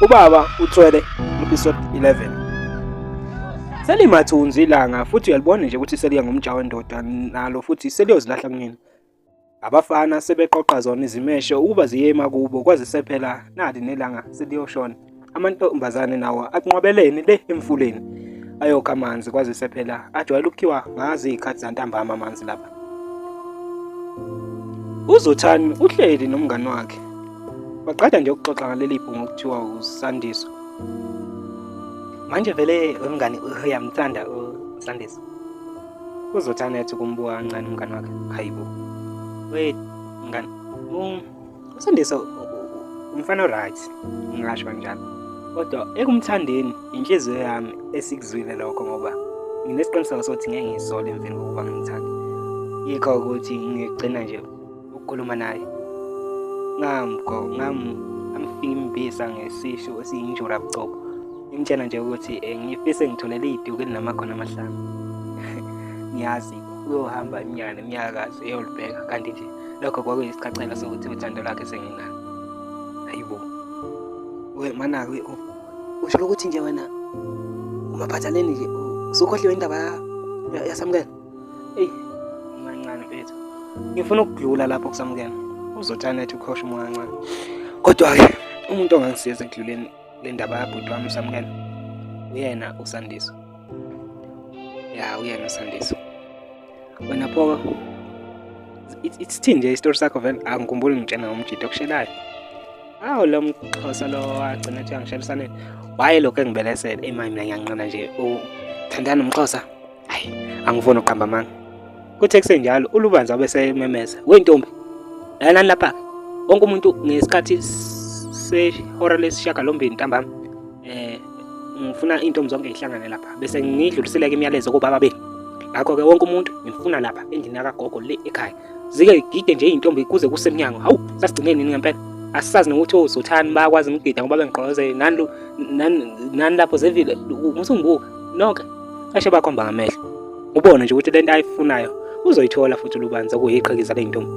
Ubaba uthwele episode 11. Selimathunzi ilanga futhi uyalibona nje ukuthi seliya ngomjaho wendoda nalo futhi seliyozilahla kunina. Abafana sebeqoqa zona izimeshe ukuba ziyema kubo kwaze sephela nali nelanga seliyoshona. Amantombazane nawo akunqwabeleni le emfuleni. Ayoka amanzi kwaze sephela ajwayele ukukhiwa ngazi izikhathi zantambama amanzi lapha. Uzothani uhleli nomngani wakhe Waqeda nje ukuxoxa ngaleli bhungu okuthiwa uSandiso. Manje vele wemngani uyamthanda uSandiso. Uzothi anethi kumbuka kancane umngani wakhe. Hayibo. Wait, mngani. Um, uSandiso umfana oright, ngingasho kanjalo. Kodwa ekumthandeni inhliziyo yami esikuzwile lokho ngoba nginesiqiniseko sokuthi ngeke ngisole emveni kokuba ngimthande. Yikho ukuthi ngigcina nje ukukhuluma naye ngamgo ngam amfimbisa ngesisho esiyinjura bucobo ngimtshela nje ukuthi eh, ngifise ngitholele iduku elinamakhona amahlanu ngiyazi uyohamba iminyaka nemiyakazi eyolibheka kanti nje lokho kwakuyisichachela sokuthi uthando lwakhe senginalo hayibo we manake usho ukuthi nje wena umaphathaleni nje usukhohliwe indaba yasamukela Eyi, mancane mfethu. Ngifuna ukudlula lapho kusamukela. Uzotanethi ukhosha umoya kancane. Kodwa-ke umuntu ongangisiza ekudluleni le ndaba yabhuti wami usamukela uyena usandiso. Ya, uyena usandiso. Wena phoka isithini nje isitori sakho vele angikhumbuli ngitshena ngomjito okushelayo awu lo mxhosa lo wagcina ethi angishelisaneni waye lokhu engibelesele eyi mina ngiyanqina nje uthandana nomxhosa Hayi, angifuni uqamba amanga. Kuthe kusenjalo uLubanzi wabe sememeza, "We ntombi, lalani lapha. Wonke umuntu ngesikhathi sehora lesishiyagalombili ntambama eh ngifuna intombi zonke ihlangane lapha bese ngidluliseleke imiyalezo kubaba benu. Ngakho-ke wonke umuntu ngimfuna lapha endlini yakagogo le ekhaya. Zike gide nje intombi kuze kusemnyango. Hawu, sasigcine nini ngempela? asisazi nokuthi ozothani bayakwazi ukugida ngoba bengigqoze nani nani lapho zevile musungibuka nonke Kashe bakhomba ngamehlo. Ubone nje ukuthi lento ayifunayo uzoyithola futhi lubanza kuyiqhikiza le ntombi.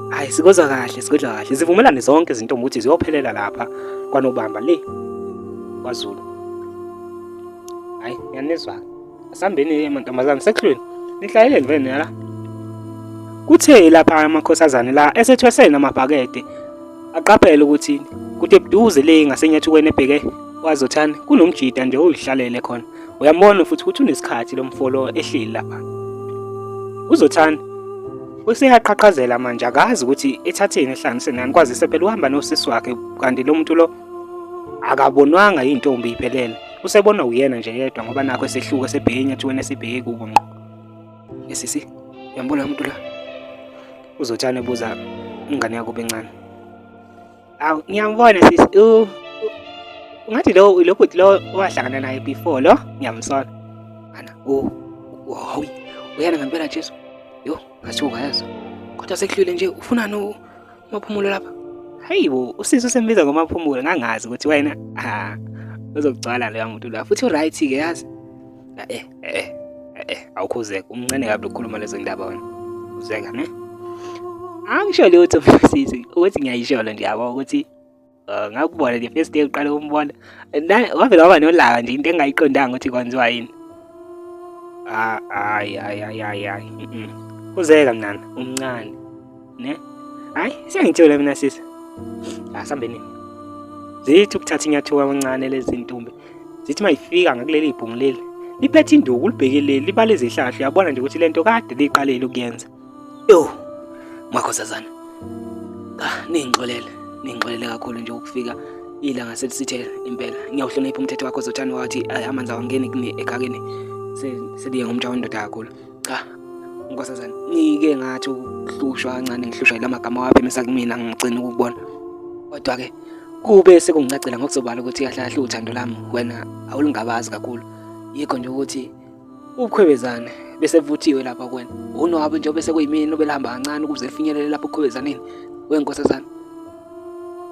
Hayi sikozwa kahle, sikozwa kahle. Zivumelane zonke izintombi ukuthi ziyophelela lapha kwanobamba le kwaZulu. Hayi, ngiyanizwa. Asambeni ke mantombazane sekhulweni. Nihlayeleni vele la. Kuthe lapha amakhosazane la esethwesene amabhakede Aqaphele ukuthi kude buduze le ngasenyathukweni ebheke kwazothani kunomjita nje oyihlalele khona. Uyambona futhi ukuthi unesikhathi lomfolo ehleli lapha. Uzothani useyaqhaqhazela manje akazi ukuthi ethatheni ehlanganise nani kwazise phela uhamba nosisi wakhe kanti lo muntu lo akabonwanga yintombi iphelele usebona uyena nje yedwa ngoba nakho esehluka sebheke enyathweni esibheke kubo ngqo Sisi, yambona umuntu la. Uzotshana ebuza ingane yakho bencane. Awu, ngiyambona sisi. Uh, ngathi lo lo bhuti lo wahlangana naye before lo ngiyamsona ana u hawu uyana ngempela Jesu yo ngathiwa kayazo kodwa sekuhlwile nje ufunani umaphumulo lapha hayibo usisi usembiza ngomaphumulo ngangazi ukuthi wena ha uzokugcwala loya muntu la futhi uright ke yazi Eh eh eh awukhuzeke umncane kabi lokukhuluma lezo ndaba wena. Uzeka ne? Angisho lutho sisi ukuthi ngiyayisholo nje yabo ukuthi eh, ngakubona the first day uqale umbona. Wavela waba nolaka nje into engayiqondanga ukuthi kwenziwa yini. Ah, hayi hayi hayi hayi. Uzeka mnana umncane. Ne? Hayi, siyangithola mina sisi. Asambeni. Ah, Zithi ukuthatha inyathuka kancane lezi ntombi. Zithi mayifika ngakuleli ibhungu leli. Liphethe induku ulibhekeleli libale izihlahla uyabona nje ukuthi lento kade liqalele ukuyenza. Yo. Makhosazana. Ah, ningixolele. Ningixolele kakhulu nje ukufika ilanga selisithe impela ngiyawuhlonipha umthetho wakho zothani wathi amanzi awangeni ekakeni seliye ngomtsha wendoda kakhulu cha nkosazana ngike ngathi ukuhlushwa kancane ngihlushwa yila magama waphimisa kumina ngigcina ukubona kodwa-ke kube sekungicacela ngokusobala ukuthi kahle kahle uthando lami wena awulungabazi kakhulu yikho nje ukuthi ubukhwebezane bese buvuthiwe lapha kwena unwabe njengoba sekuyimini obelihamba kancane ukuze lifinyelele lapho ukhwebezaneni wenkosazana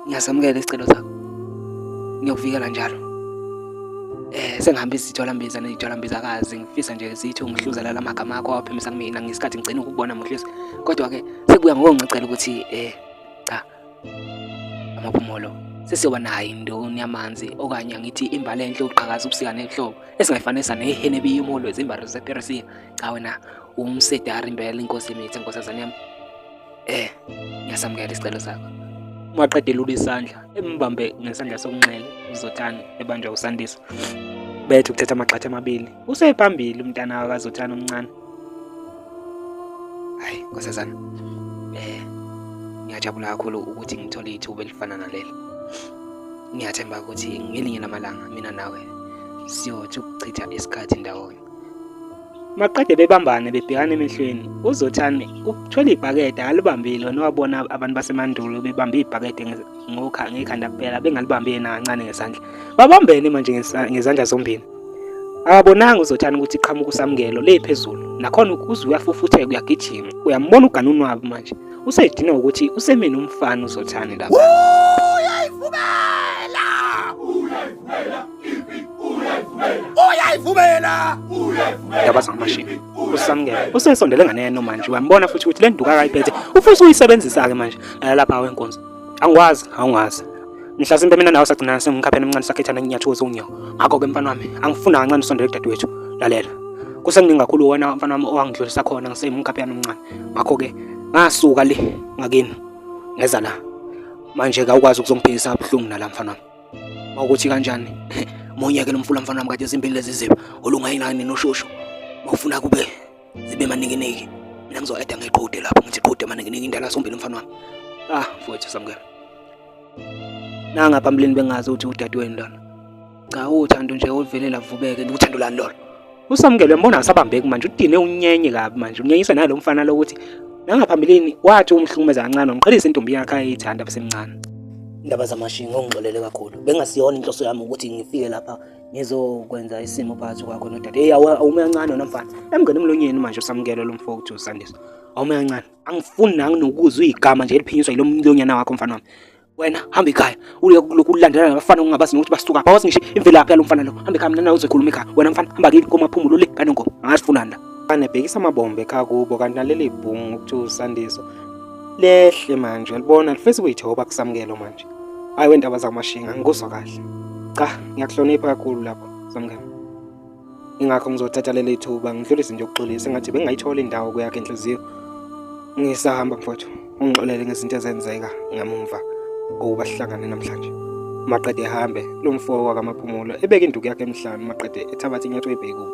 ngiyasamukela isicelo sakho ngiyokuvikela njalo eh sengihambe izitholambiza nezitholambizakazi ngifisa nje zithi ungihluzela la magama akho awaphimisa kumina ngesikhathi ngigcina ukubona muhlisi kodwa ke sekuya ngokungicela ukuthi eh cha amaphumulo sesiyoba nayo indoni yamanzi okanye ngithi imbali enhle uqhakaza ubusika nehlobo esingayifanisa nehene biyumulo ezimbazo zepersia cha wena umsedari impela inkosi imithi inkosazane yami Eh, ngiyasamukela isicelo sakho. Uma qede lula isandla, embambe ngesandla sokunxele uZothani ebanjwa uSandisa. Bethe ukuthatha amagxatha amabili. Usephambili umntana wakaZothani omncane. Hayi, nkosazana. Eh, ngiyajabula kakhulu ukuthi ngithole ithuba elifana naleli. Ngiyathemba ukuthi ngelinye lamalanga mina nawe siyothi ukuchitha isikhathi ndawonye. Maqede bebambane bebhekana emehlweni, uZothane uthwele ibhakede alibambile wena wabona abantu basemandulo bebambe ibhakede ngokha ngekhanda kuphela bengalibambi yena kancane ngesandla. Babambene manje ngezandla zombili. Akabonanga uZothane ukuthi iqhamuka usamukelo le phezulu. Nakhona uze uyafufutheka uyagijima. Uyambona ugana unwabu manje. Usedinwa ukuthi usemini umfana uZothane lapha. uyayivumela ndaba zamashini usamukele usesondele ngane yenu manje uyambona futhi ukuthi le nduka akayiphethe ufisa uyisebenzisa-ke manje lapha wenkonzo angikwazi awungazi mhlasimpe mina nawe sagcina sengikhapheni emncane sakhethana nginyathuza unyawo ngakho-ke mfana wami angifuna kancane usondele kudadewethu lalela kusenginingi kakhulu wena mfana wami owangidlulisa khona ngisemkhapheni omncane ngakho-ke ngasuka le ngakini ngeza la manje kawukwazi ukuzongiphikisa abuhlungu nala mfana wami mawukuthi kanjani monyeke nomfula mfana wami kade zimbili lezi ziba olungayinani noshushu mawufuna kube zibe maninginiki mina ngizoeda ngeqhude lapho ngithi qhude maninginiki indala sombili mfana wami ah mfowethu samukela nanga phambilini bengazi ukuthi udadewenu lona cha uthando nje oluvelela vubeke uthando lani lona usamukele mbona asabambeki manje udine unyenye kabi manje unyenyisa nalo mfana lokuthi nangaphambilini wathi umhlukumeza kancane umqhelisa intombi yakhe ayithanda besemncane indaba zamashinga ungixolele kakhulu bengasiyona inhloso yami ukuthi ngifike lapha ngizokwenza isimo phakathi kwakho nodade eyi awume kancane wena mfana emngene emlonyeni manje usamukele lo mfo ukuthi usandisa awume kancane angifuni nanginokuzwa igama nje eliphinyiswa yilo mlonyana wakho mfana wami wena hamba ekhaya uye kulokhu ulandela nabafana ungabazi nokuthi basuka bawazi ngisho imvelaphi yalo mfana lo hamba ekhaya mina nawe uzokhuluma ekhaya wena mfana hamba kini komaphumulo le kanongoba angasifunani la mfana ebhekisa amabombe ekhaya kubo kanti naleli bhungu kuthiwa usandiso lehle manje uyalibona lifesi kuyithoba kusamukelo manje hayi wendaba zamashinga ngikuzwa kahle cha ngiyakuhlonipha kakhulu lapho samukelo ingakho ngizothatha leli thuba ngidlulise nje ukuxolisa ngathi bengayithola indawo kuyakhe inhliziyo ngisahamba mfowethu ungixolele ngezinto ezenzeka ngamumva okuba sihlangane namhlanje maqede ehambe lo mfo wakamaphumulo ebeke induku yakhe emhlanu maqede ethabatha inyatho ebhekubo